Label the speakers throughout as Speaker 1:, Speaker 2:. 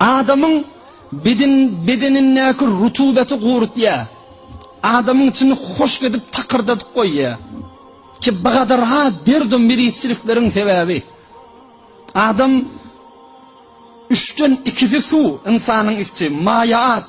Speaker 1: Adamyň bedenindäki rutubaty gurutýar. Adamyň içini hoşk edip takyrdadyp goýýar. Ki bigadar-ha derdum mirizçilikleriň sebäbi. Adam üçden ikisi suw, ynsanyň ikisi, maýa at.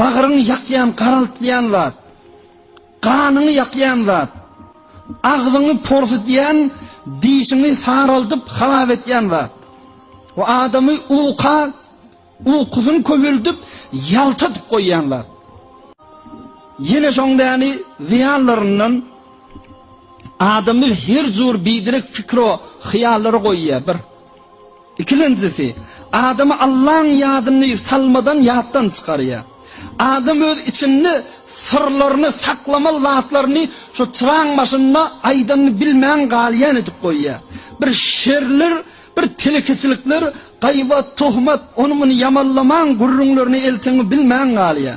Speaker 1: Bagryňy ýakýan, garaltýan zat, ganyňy ýakýan zat, agzyňy porsudýan, dişiňi saraldyp harap etýän zat we adamy uka, ukusyny köpeldip, ýaltadyp goýýan zat. Ýene şoň däni zyýanlaryndan adamy her jur biderek pikro hyýallara goýýar. Bir. Ikilenjisi, adamy Allaň ýadyny salmadan ýatdan çykarýar. Adam öz içinde syrlaryny, saklamaly zatlaryny şo çyraň başynda aýdanyny bilmän galýan edip goýýar. Bir şerler, bir telekeçilikler, gaýbat, tohmat, ony-muny ýamanlamaň gürrüňlerini elteňi bilmän galýar.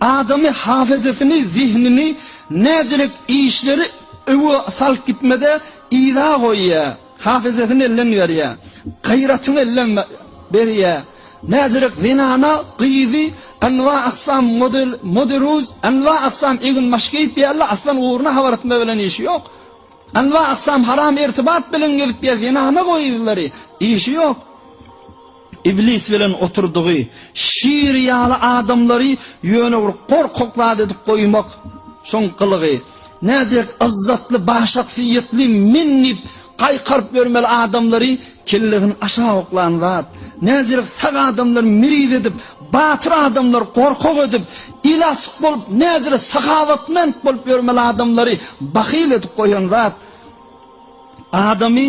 Speaker 1: Adamy hafezasyny, zehnini näcelik işleri öwe salyp gitmede yza goýýa, hafezasyny elden berýä, gaýratyny elden berýä. Näcelik zenana, gyzy anwa aksam model, moderuz, anwa aksam egin maş geýip ýärle, aslan ugruna habar etme bilen işi ýok. Anwa aksam haram ertibat bilen gezip ýa zenana gyzlary, işi ýok. Iblis bilen oturdygy şir ýaly adamlary ýöne bir gorkak zat edip goýmak, şoň gylygy. Nädek yzzatly, başahsyýetli men diýip gaýkaryp ýörmeli adamlary kellesini aşak oklan zat. Nädek sag adamlary miriz edip, batyr adamlary gorkak edip, eli açyk bolup, nädek sahawatmend bolup ýörmeli adamlary bahyl edip goýan zat. Adamy.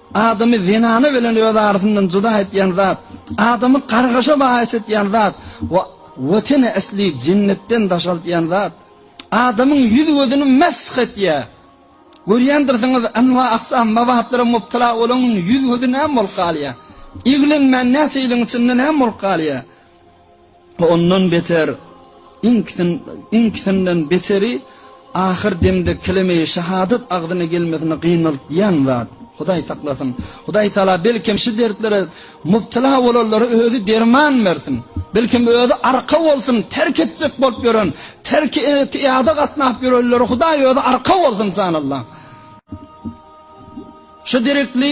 Speaker 1: Adamy zenana bilen öz arasyndan juda etýän zat, adamy gargaşa baýys etýän zat we Watene asli jennetden daşaltýan zat, adamyň ýüz-gözüni mesh etýär. Görýändirsiňiz, enwa-aksam mabatlara mubtala bolanyň ýüz-gözi näme bolup galýar? Iglenmän näçe ýylyň içinde näme bolup galýar? Ondan beter, iňkisinden beteri, ahyr demde keleme-i şahadat agzyna gelmesini gynaltýan zat. Hudaý saklasyn. Hudaý Tagala belkem şu dertlere mubtela bolanlara özi derman bersin. Belkem özi arka bolsun, terk etjek bolup ýören, terk etiýada gatnap ýörenlere Hudaý özi arka bolsun, janallam. Şu derekli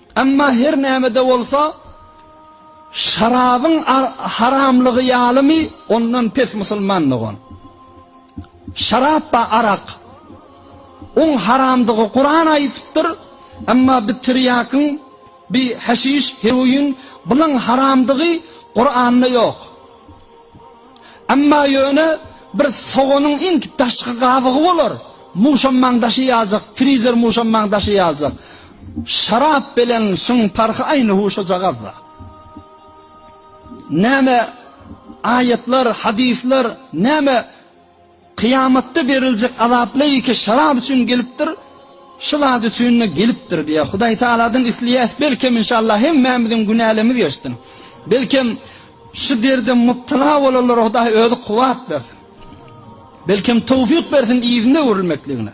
Speaker 1: Emma her näme-de bolsa, şarabyň haramlygy ýalymy, ondan pes musulman dogan? Şarap ba arak. Oň haramdygy Kuran aýytypdyr, emma bi tirýakyň, bi haşiş, heroin, bulaň haramdygy Kuranda ýok. Emma ýöne bir soganyň iň daşky gabygy bolar, muşammaň daşy ýaljak, frizer muşammaň daşy ýaljak. Şarap bilen şuň parhy aýny huşajagazda. Näme aýatlar, hadyslar, näme Kyýamatda beriljek azap leýke şarap üçin gelipdir, şu zat üçin-de gelipdir diýýär. Hudaý Tagaladan isleýäs, belkem, inşallah, hemmämiziň günälerimiz geçsin. Belkem, şu derde mubtala bolanlara Hudaý Özi kuwwat bersin. Belkem, towfyk bersin yzyna öwrülmekligine.